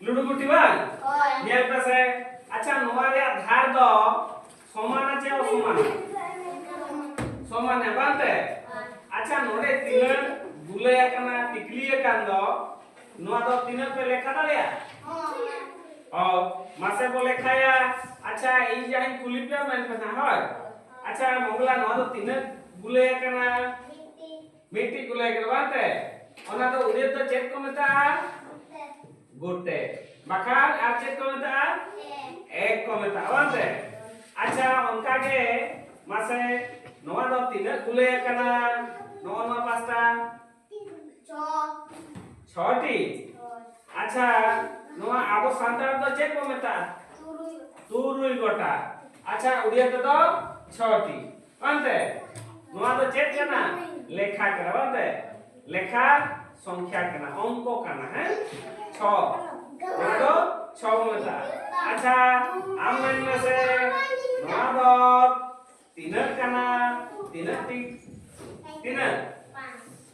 ᱞᱩᱰᱩᱜᱩᱴᱤ ᱵᱟᱝ ᱧᱮᱞ ᱯᱮ ᱥᱮ ᱟᱪᱪᱷᱟ ᱱᱚᱣᱟ ᱨᱮᱭᱟᱜ ᱫᱷᱟᱨ ᱫᱚ ᱥᱚᱢᱟᱱᱟ ᱪᱮ ᱚᱥᱚᱢᱟᱱᱟ ᱥᱚᱢᱟᱱᱟ ᱵᱟᱝ ᱛᱮ ᱟᱪᱪᱷᱟ ᱱᱚᱰᱮ ᱛᱤᱱᱟᱹᱜ ᱜᱩᱞᱟᱹᱭ ᱟᱠᱟᱱᱟ ᱴᱤᱠᱞᱤ ᱟᱠᱟᱱ ᱫᱚ ᱱᱚᱣᱟ ᱫᱚ ᱛᱤᱱᱟᱹᱜ ᱯᱮ ᱞᱮᱠᱷᱟ ᱫᱟᱲᱮᱭᱟ ᱚ ᱢᱟᱥᱮ ᱵᱚ ᱞᱮᱠᱷᱟᱭᱟ ᱟᱪᱪᱷᱟ ᱤᱧ ᱡᱟᱦᱟᱸᱧ ᱠᱩᱞᱤ ᱯᱮᱭᱟ ᱢᱮᱱ ᱯᱮ ᱦᱳᱭ ᱟᱪᱪᱷᱟ ᱢᱚᱝᱜᱚᱞᱟ ᱱᱚᱣᱟ ᱫᱚ ᱛᱤᱱᱟᱹᱜ ᱜᱩᱞᱟᱹᱭ ᱟᱠᱟᱱᱟ ᱢᱤᱫᱴᱤᱡ ᱢᱤᱫᱴᱤᱡ ᱠᱚ ᱞᱟᱹᱭ ᱠᱮᱫᱟ ᱵᱟᱝ ᱛᱮ ᱚᱱᱟ ᱫᱚ ᱩᱫᱮᱫ ᱫᱚ ᱪᱮᱫ ᱠᱚ ᱢᱮᱛᱟᱜᱼᱟ ᱜᱩᱴᱮ ᱵᱟᱠᱷᱟᱱ ᱟᱨ ᱪᱮᱫ ᱠᱚ ᱢᱮᱛᱟᱜᱼᱟ ᱮᱠ ᱠᱚ ᱢᱮᱛᱟᱜᱼᱟ ᱵᱟᱝ ᱛᱮ ᱟᱪᱪᱷᱟ ᱚᱱᱠᱟ ᱜᱮ ᱢᱟᱥᱮ ᱱᱚᱣᱟ ᱫᱚ ᱛᱤᱱᱟᱹᱜ ᱠᱚ ᱞᱟᱹᱭ ᱟᱠᱟᱱᱟ ᱱᱚᱜᱼᱚ ᱱᱚᱣᱟ ᱯᱟᱥᱴᱟ ᱪᱷᱚᱴᱤ ᱟᱪᱪᱷᱟ ᱱᱚᱣᱟ ᱟᱵᱚ ᱥᱟᱱᱛᱟᱲ ᱫᱚ ᱪᱮᱫ ᱵᱚ ᱢᱮᱛᱟᱜᱼᱟ ᱛᱩᱨᱩᱭ ᱜᱚᱴᱟ ᱟᱪᱪᱷᱟ ᱩᱰᱤᱭᱟ ᱛᱮᱫᱚ ᱪᱷᱚᱴᱤ ᱵᱟᱝᱛᱮ ᱱᱚᱣᱟ ᱫᱚ ᱪᱮᱫ ᱠᱟᱱᱟ ᱞᱮᱠᱷᱟ ᱠᱟᱱᱟ ᱵᱟᱝᱛᱮ ᱞᱮᱠᱷᱟ ᱥᱚᱝᱠᱷᱟ ᱠᱟᱱᱟ ᱚᱝᱠᱚ ᱠᱟᱱᱟ ᱦᱮᱸ ᱪᱷᱚ ᱱᱚᱣᱟ ᱫᱚ ᱪᱷᱚ ᱵᱚ ᱢᱮᱛᱟᱜᱼᱟ ᱟᱪᱪᱷᱟ ᱟᱢ ᱢᱮᱱ ᱢᱮᱥᱮ ᱱᱚᱣᱟ ᱫᱚ ᱛᱤᱱᱟᱹᱜ ᱠᱟᱱᱟ ᱛᱤᱱᱟᱹᱜ ᱴᱤ ᱛᱤᱱᱟᱹᱜ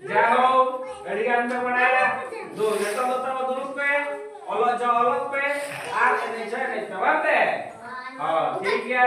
ᱡᱟᱦᱳ ᱟᱹᱰᱤ ᱜᱟᱱ ᱯᱮ ᱵᱟᱲᱟᱭᱟ ᱫᱩ ᱱᱤᱛᱚᱜ ᱫᱚ ᱛᱟᱵᱚ ᱫᱩᱲᱩᱵ ᱯᱮ ᱚᱞᱚᱜ ᱡᱚ ᱚᱞᱚᱜ ᱯᱮ ᱟᱨ ᱮᱱᱮᱡ ᱡᱚ ᱮᱱᱮᱡ ᱯᱮ ᱵᱟᱝ ᱛᱮ ᱦᱚᱸ ᱴᱷᱤᱠ ᱜᱮᱭᱟ